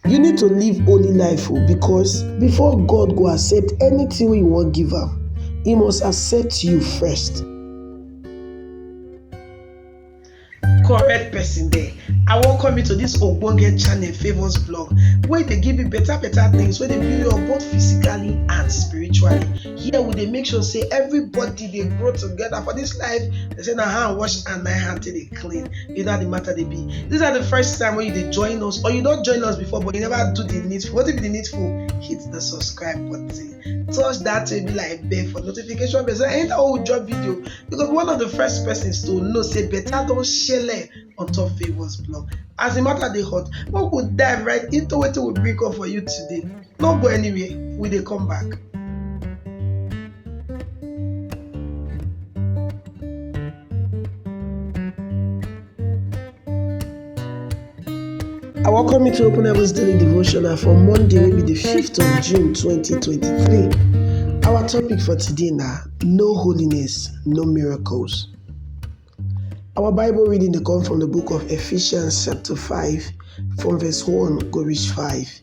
You need to live holy life o because before God go accept anything wey you wan give am, e must accept you first. correct person there i welcome you to this ogbonge channel favours blog wey dey give you better better things wey dey build you up both physically and spiritually here we dey make sure say everybody dey grow together for this life they say na hand wash and na hand take dey clean you know how the matter they be these are the first time when you they join us or you don't join us before but you never do the needful what if the needful hit the subscribe button touch that to be like bell for notification bell so anytime we drop video you go be one of the first persons to know say better don't share on top favors blog as the matter they hot we go dive right into what we bring up for you today no go anywhere we they come back. I welcome you to Open Heavens Daily Devotional for Monday, wey be the 5th of June 2023. Our topic for today na No Holiness, No Miracles. Our Bible reading dey come from the book of Ephesians chapter 5 from verse 1 go reach 5.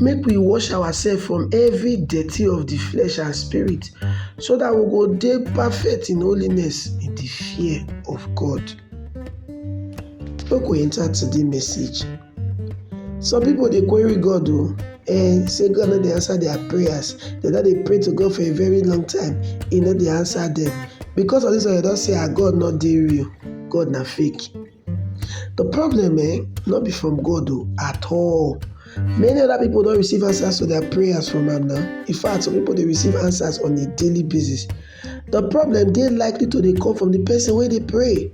Make we wash ourselves from every dirty of the flesh and spirit, so that we go dey perfect in holiness in the fear of God. Make we enter today message. Some people dey query God o, eh, say God no dey answer their prayers. They don dey pray to God for a very long time, He no dey answer them. Because of this one, they don say, ah, God no dey real, God na fake. The problem eh, no be from God o at all. Many other people don receive answers to their prayers from am now. In fact, some people dey receive answers on a daily basis. The problem dey likely to dey come from the person wey dey pray.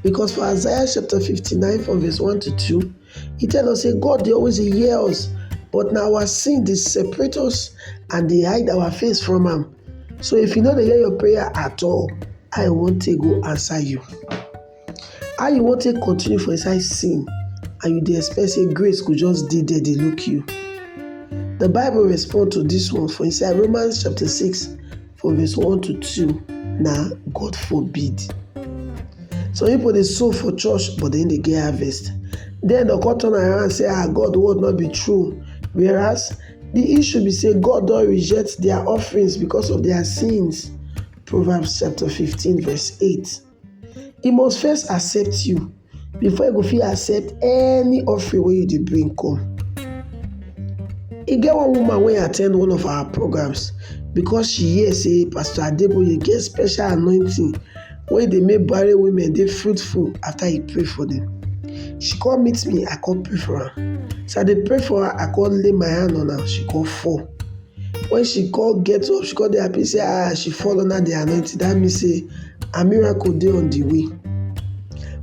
Because for Isaiah chapter 59 from verse 1 to 2, e tell us say God dey always dey hear us, but na our sin dey separate us and dey hide our face from am. So if e no dey hear your prayer at all, how e wan take go answer you? How you wan take continue for inside sin and you dey expect sey grace go just dey there dey look you? The bible respond to dis one for inside Romans chapter six from verse one to two na God forbid. Some pipu dey sow for church but dem no dey get harvest den dem come turn around say ah God word no be true whereas the issue be sey God don reject their offerings because of their sins Proverbs chapter fifteen verse eight. e must first accept you before e go fit accept any offering wey you dey bring come. E get one woman wey at ten d one of our programs because she hear sey Pastor Adeboye get special anointing wey dey make barren women dey fruitful after he pray for dem. She come meet me, I come pray for am. As I dey pray for am, I come lay my hand on am, she come fall. When she come get up, she come dey happy say ah she fall under the anointing. That means say her miracle dey on the way.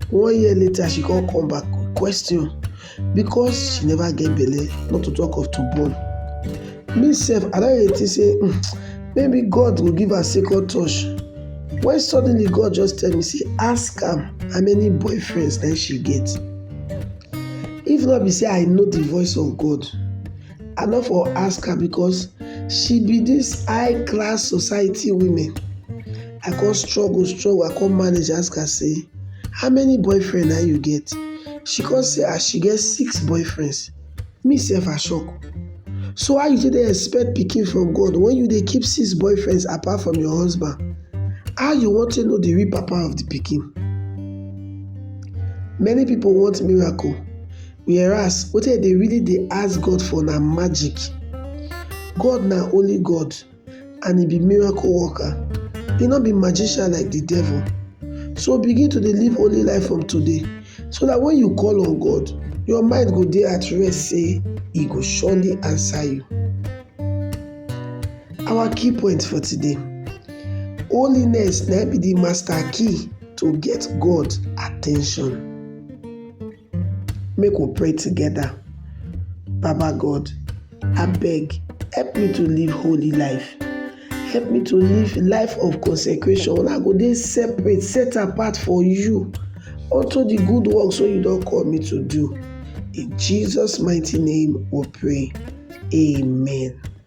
One year later, she come come back question because she never get belle, not to talk of to born. Me sef, I don dey think say um maybe God go give her second touch. When suddenly God just tell me say ask am how many boyfriends na im she get. If no be say I know the voice of God, I no for ask her because she be this high class society women. I come struggle struggle I come manage ask her say how many boyfriend na you get? She come say as ah, she get six boyfriends. Me sef I shock. So how you take dey expect pikin from God when you dey keep six boyfriends apart from your husband? How you wan take know the real papa of the pikin? Many people want miracle Whereas wetin dem dey really dey ask God for na magic. God na holy God and e be miracle worker, e no be magician like de devil. So begin to dey live holy life from today so dat wen you call on God, your mind go dey at rest sey e go surely answer you. Our key point for today, holiness na im be de master key to get God at ten tion. Make we pray together. Baba God, abeg help me to live holy life. Help me to live life of consecration. I go dey separate, set apart for you unto the good works wey you don call me to do. In Jesus' mighty name we pray. Amen.